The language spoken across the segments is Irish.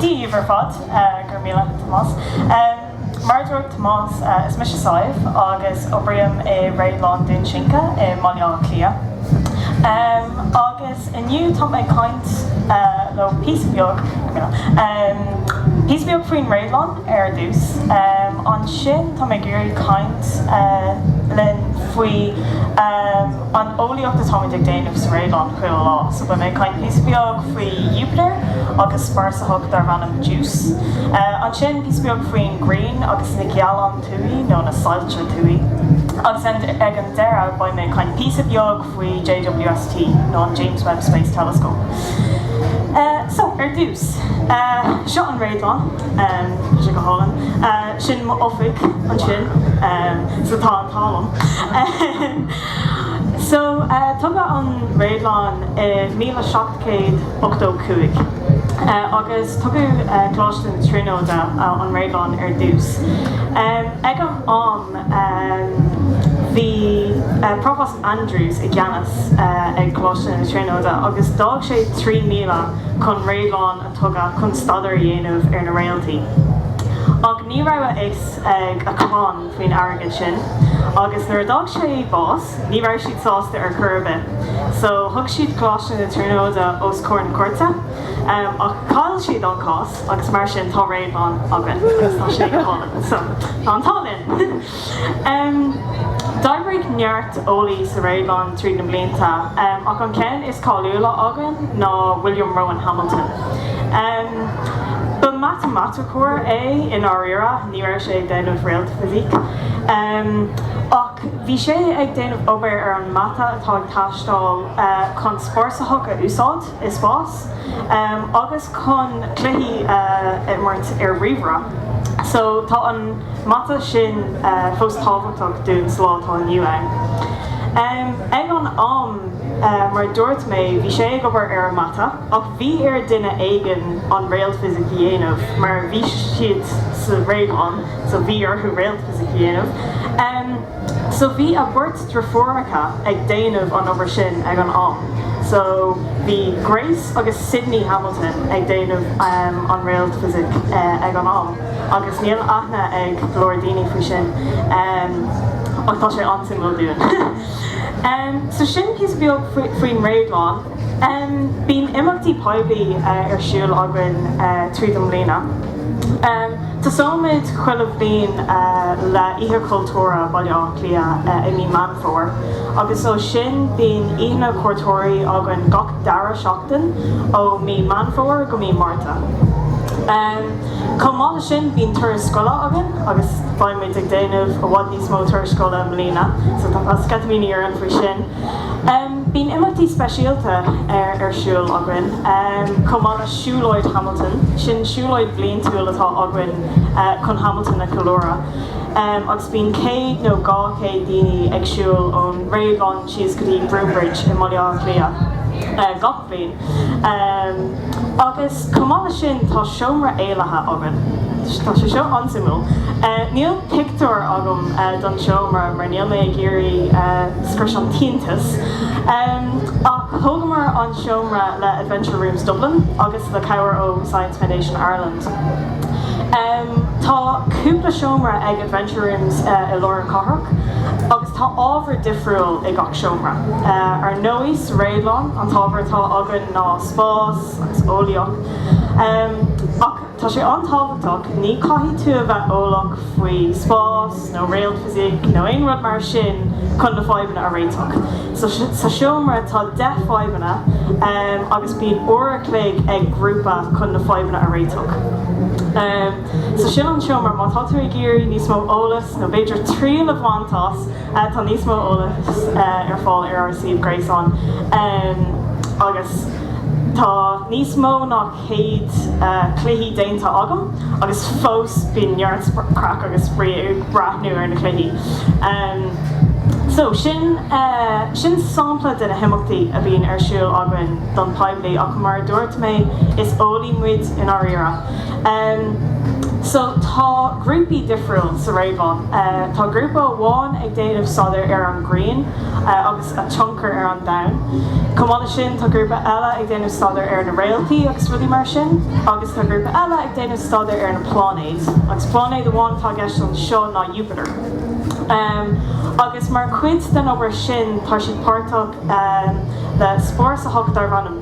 Díbh ar fad. Go raibh míle agat Tomás. Mar a dúirt Tomás, is mise Sadhbh agus oibrím i Réadlann Dhún Sinche i mBaile Átha Cliath. Agus inniu tá mé ag caint libh píosa beag, go raibh míle, píosa beag faoin réadlann. ar dtús. Ansin, tá mé ag iarraidh caint libh faoi an eolaíocht atáimid ag déanamh sa Réadlann chuile lá. So, beidh mé ag caint píosa beag faoi Iúpatar agus spásárthach darb ainm Juice. Ansin, píosa beag faoin ghrian agus na gealáin thuaidh, nó na soilse thuaidh. Agus ag an deireadh, beidh mé ag caint píosa beag faoi JWST nó an James Webb Space Telescope. So, ar dtús, seo an réadlann, tá sé go hálainn, sin m'oifig ansin, so tá an t-ádh liom. So, tógadh an réadlann i míle seacht céad ochtó cúig, agus tógadh Coláiste na Tríonóide an réadlann ar dtús. Ag an am, Bhí Provost Andrews i gceannas ag Coláiste na Tríonóide agus d'fhág sé trí míle chun réadlann a tógadh chun staidéar a dhéanamh ar na réaltaí. Ach ní raibh a fhios ag a chlann faoin airgead sin agus nuair a d'fhág sé bás ní raibh siad sásta ar chor ar bith. So thug siad Coláiste na Tríonóide os comhair na cúirte. Ach chaill siad an cás. agus mar sin tá réadlann againn agus tá sé go hálainn. So tá an t-ádh linn! D'oibrigh neart eolaí sa réadlann tríd na blianta ach an ceann is cáiliúla againn ná William Rowan Hamilton. Ba mhatamaiticeoir é i ndáiríre, ní raibh sé ag déanamh réaltfhisic, ach bhí sé ag déanamh obair ar an mata atá ag taisteáil chun spásárthach a úsáid. i spás agus chun cluichí a imirt ar ríomhaire so tá an mata sin fós tábhachtach dúinn sa lá atá inniu ann. Ag an am mar a dúirt mé bhí sé ag obair ar an mata ach bhí ar duine éigin an réaltfhisic a dhéanamh mar bhí siad sa réadlann so bhí orthu réaltfhisic a dhéanamh so bhí a bheirt deirfiúracha ag déanamh an obair sin ag an am so bhí Grace agus Sydney Hamilton ag déanamh an réaltfhisic ag an am agus níl aithne ag go leor daoine faoi sin ach tá sé an-suimiúil dúinn. So sin píosa beag faoin réadlann. Bíonn imeachtaí poiblí ar siúl againn tríd an mbliana. Tosaímid chuile bhliain le Oíche Chultúrtha Bhaile Átha Cliath i mí Meán Fómhair agus ó sin bíonn Oícheanna Cuairteoirí againn gach dara seachtain ó mí Meán Fómhair go mí Márta. Chomh maith le sin bíonn turais scoile againn agus beimid ag déanamh i bhfad níos mó turais scoile i mbliana so tá sceitimíní orainn faoi sin. Bíonn imeachtaí speisialta ar siúl againn chomh maith le Siúlóid Hamilton, sin siúlóid bliantúil atá againn chun Hamilton a cheiliúradh agus bíonn 100 nó 200 duine ag siúl ón Réadlann síos go dtí Broombridge i mBaile Átha Cliath gach Bliain. Agus chomh maith le sin, tá seomra éalaithe againn. Tá sé seo an-suimiúil. Níl pictiúr agam don seomra mar níl mé ag iarraidh scrios an t-iontas, ach thógamar an seomra le Adventure Rooms Dublin agus le cabhair ó Science Foundation Ireland. Tá cúpla seomra ag Adventure Rooms i lár an cathrach agus tá ábhar difriúil i gach ceann. seomra. Ar ndóigh, sa réadlann, an t-ábhar atá againn ná spás agus eolaíocht. Ach tá sé an-tábhachtach, ní caithfidh tú a bheith eolach faoi spás nó réaltfhisic nó aon rud mar sin chun na fadhbanna a réiteach. Sa seomra tá deich fadhbanna agus bíonn uair a chloig ag grúpa chun na fadhbanna a réiteach. So sin an seomra. Má tá tú ag iarraidh níos mó eolas nó b'fhéidir triail a bhaint as, Tá níos mó eolas ar fáil ar ár suíomh gréasáin agus tá níos mó ná 100 cluichí déanta agam agus fós bíonn neart craic agam ag breathnú ar na cluichí. So, sin sampla de na himeachtaí a bhíonn ar siúl againn don poiblí ach mar a dúirt mé, is eolaí muid i ndáiríre. So tá grúpaí difriúil sa réadlann. Tá grúpa amháin ag déanamh staidéar ar an grian agus a tionchar ar an domhan. Chomh maith le sin tá grúpa eile ag déanamh staidéar ar na réaltaí agus rudaí mar sin. Agus tá grúpa eile ag déanamh staidéar ar na pláinéid. Agus pláinéad amháin atá i gceist anseo ná Jupiter. Agus mar cuid den obair sin tá siad páirteach le spásárthach darb ainm.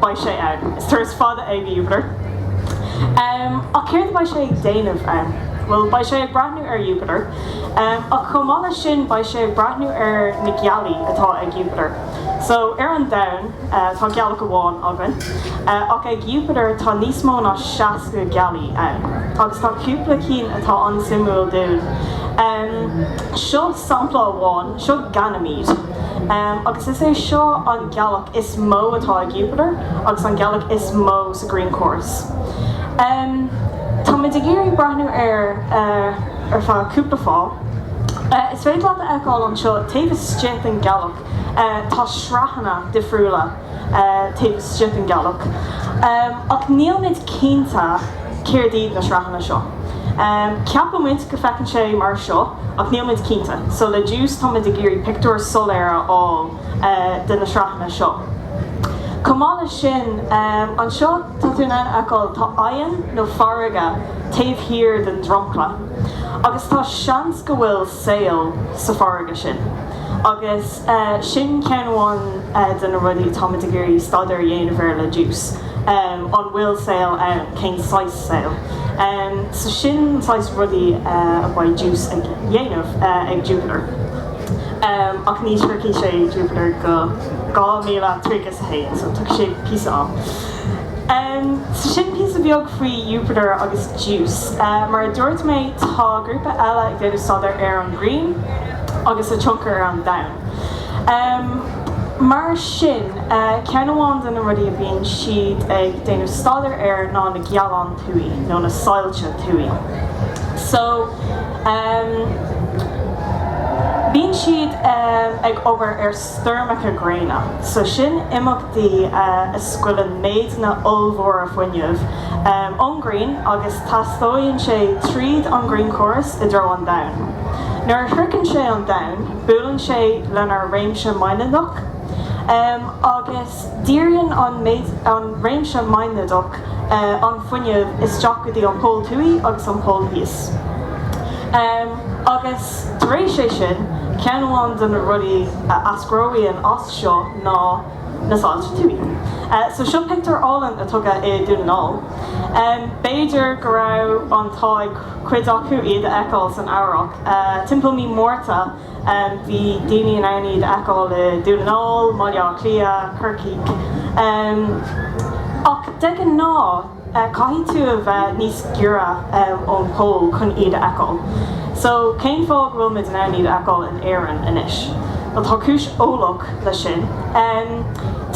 Beidh sé ann. Is turas fada é go Jupiter. Umm, ach céard a beidh sé ag déanamh ann? Bhuel, beidh sé ag breathnú ar Jupiter. Umm, ach chomh maith le sin, beidh sé ag breathnú ar na gealaí atá ag Jupiter. So, ar an Domhan, tá gealach amháin againn. Ach ag Jupiter, tá níos mó ná 60 gealaí ann. Agus tá cúpla cinn atá an-suimiúil dúinn. Umm, seo sampla amháin. Seo Ganymede. agus is é seo an ghealach is mó atá ag Iúpatar agus an ghealach is mó sa ghrianchóras. Táimid ag iarraidh breathnú air ar feadh cúpla fáth. Is féidir leat a fheiceáil anseo, taobh istigh den ghealach tá sraitheanna difriúla. taobh istigh den ghealach, ach nílimid cinnte céard iad na sraitheanna seo. Ceapaimid go bhfeiceann sé mar seo, ach nílimid cinnte, so le Juice táimid ag iarraidh pictiúr soiléir a fháil de na sraitheanna seo. Chomh maith leis sin, anseo tá tú in ann a fheiceáil, tá aigéan nó farraige taobh thíos den dromchla, agus tá seans go bhfuil saol sa farraige sin. Agus sin ceann amháin de na rudaí atáimid ag iarraidh staidéar a dhéanamh air le Juice, an bhfuil saol ann, cén saghas saol. So sin saghas rudaí a bheidh Juice ag déanamh ag Jupiter. Ach ní shroichfidh sé Jupiter go 2031, so tógfaidh sé píosa am. So sin píosa beag faoi Jupiter agus Juice. Mar a dúirt mé, tá grúpa eile ag déanamh staidéir ar an Ghrian agus a tionchar ar an Domhan. Mar sin, ceann amháin de na rudaí a bhíonn siad ag déanamh staidéir air ná na gealáin thuaidh, nó na soilse thuaidh. So bíonn siad ag obair ar. stoirmeacha gréine, so sin imeachtaí a scaoileann méideanna ollmhóra fuinneamh ón ngrian agus taistealaíonn sé tríd an ngrianchóras i dtreo an domhain. Nuair a shroicheann sé an domhain, buaileann sé lenár réimse maighnéadach agus. Díríonn an réimse maighnéadach an fuinneamh isteach go dtí an pol thuaidh agus an pol theas, agus tar éis sin, ceann amháin de na rudaí a eascraíonn as seo ná na soilse thuaidh. So seo pictiúr álainn a tógadh i Dún na nGall. B'fhéidir go raibh an t-ádh ag cuid agaibh iad a fheiceáil san Earrach, timpeall mí Márta. Bhí daoine in ann iad a fheiceáil i Dún na nGall, Baile Átha Cliath, Corcaigh. Ach de ghnáth, caithfidh tú a bheith níos giorra ón bpol chun iad a fheiceáil. So, cén fáth go bhfuil muid in ann iad a fheiceáil in Éirinn anois? Bhuel, tá cúis eolaíoch leis sin.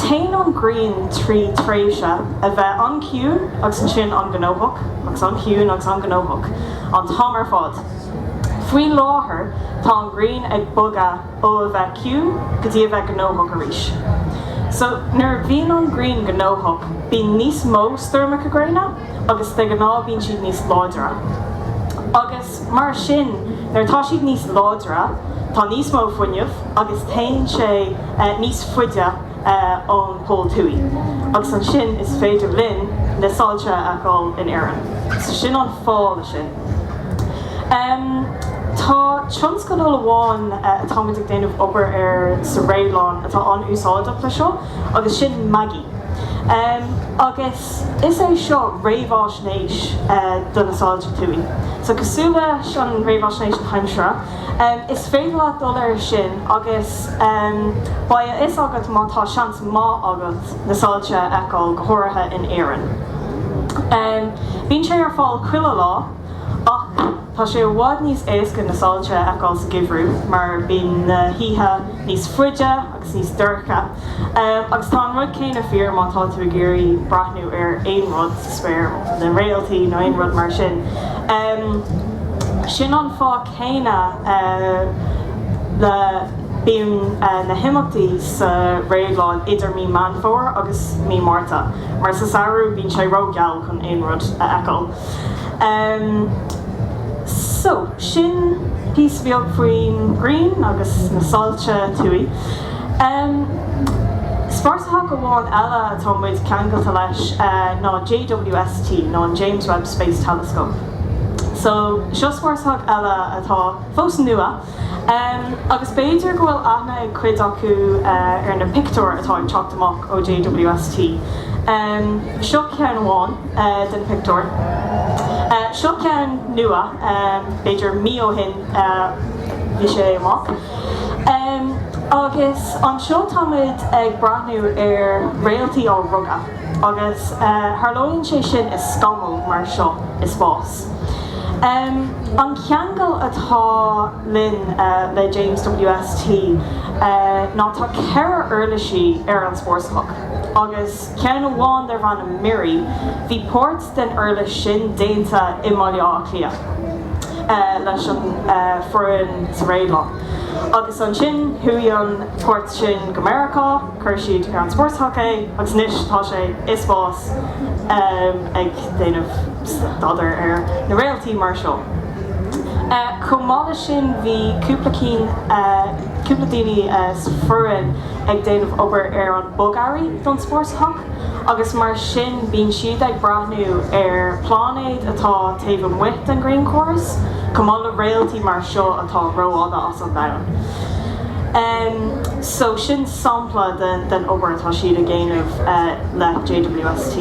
Téann an ghrian trí thréimhse a bheith an-chiúin agus ansin an-ghnóthach, agus an-chiúin agus an-ghnóthach an t-am ar fad. Faoi láthair tá an ghrian ag bogadh ó a bheith ciúin go dtí a bheith gnóthach arís. So nuair a bhíonn an ghrian gnóthach bíonn níos mó stoirmeacha gréine agus de ghnáth bíonn siad níos láidre. Agus mar sin nuair atá siad níos láidre tá níos mó fuinneamh agus téann sé níos faide ón Pol Thuaidh agus ansin is féidir linn na soilse a fheiceáil in Éirinn. So sin an fáth le sin. Tá tionscadal amháin atáimid ag déanamh obair air sa réadlann atá an-úsáideach leis seo agus sin MagIE. Agus is é seo réamhaisnéis do na soilse thuaidh. So cosúil leis an réamhaisnéis na haimsire, is féidir leat dul air sin agus beidh a fhios agat má tá seans maith agat, na soilse a fheiceáil, go háirithe in Éirinn. Bíonn sé ar fáil chuile lá, ach tá sé i bhfad níos éasca na soilse a fheiceáil sa gheimhreadh, mar bíonn na hoíche níos faide agus níos dorcha. Agus tá an rud céanna fíor má tá tú ag iarraidh breathnú ar aon rud sa spéir, na réaltaí nó aon rud mar sin. Sin an fáth céanna le bíonn na himeachtaí sa réadlann idir mí Meán Fómhair agus mí Márta, mar sa samhradh bíonn sé rógheal chun aon rud a fheiceáil. So, sin píosa beag faoin ghrian agus na soilse thuaidh. Spásárthach amháin eile atá muid ceangailte leis ná JWST, nó an James Webb Space Telescope. So, seo spásárthach eile atá fós nua, agus b'fhéidir go bhfuil aithne ag cuid acu ar na pictiúir atá ag teacht amach ó JWST. Seo ceann amháin de na pictiúir. Seo ceann nua, b'fhéidir mí ó shin a bhí sé amach. Agus anseo táimid ag breathnú ar réaltaí á rugadh. agus tharlaíonn sé sin i scamall mar seo i spás. An ceangal atá linn le James WST ná tá ceithre uirlisí ar an spásárthach, agus ceann amháin darb ainm MIRI, bhí páirt den uirlis sin déanta i mBaile Átha Cliath leis an foireann sa réadlann, agus ansin chuaigh an páirt sin go Meiriceá. Chuir siad ar an sports hockey agus anois tá sé i spás ag déanamh staidéar ar na réaltaí mar seo. Chomh maith le sin bhí cúpla daoine san fhoireann ag déanamh obair ar an bogearraí don spórt hac agus mar sin bíonn siad ag breathnú ar pláinéid atá taobh amuigh den ghrianchóras chomh maith le réaltaí mar seo atá rómháide as an domhan. So sin sampla de den obair atá siad a dhéanamh le JWST.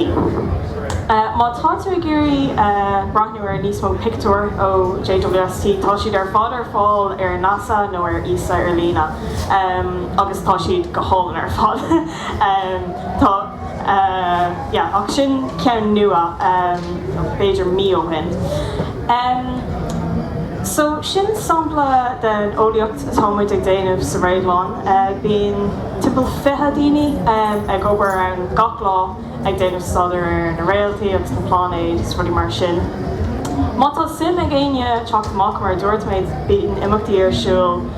Má tá tú ag iarraidh breathnú ar níos mó pictiúir ó JWST tá siad ar fad ar fáil ar NASA nó ar ESA ar líne agus tá siad go hálainn ar fad. yeah ach sin ceann nua b'fhéidir mí ó shin em so sin sampla den eolaíocht atá muid ag déanamh sa Réadlann bíonn timpeall fiche daoine em ag obair ann gach lá ag déanamh staidéar ar na réaltaí agus na pláinéid is rudaí mar sin má tá suim ag éinne teacht amach mar a dúirt mé bíonn imeachtaí ar siúl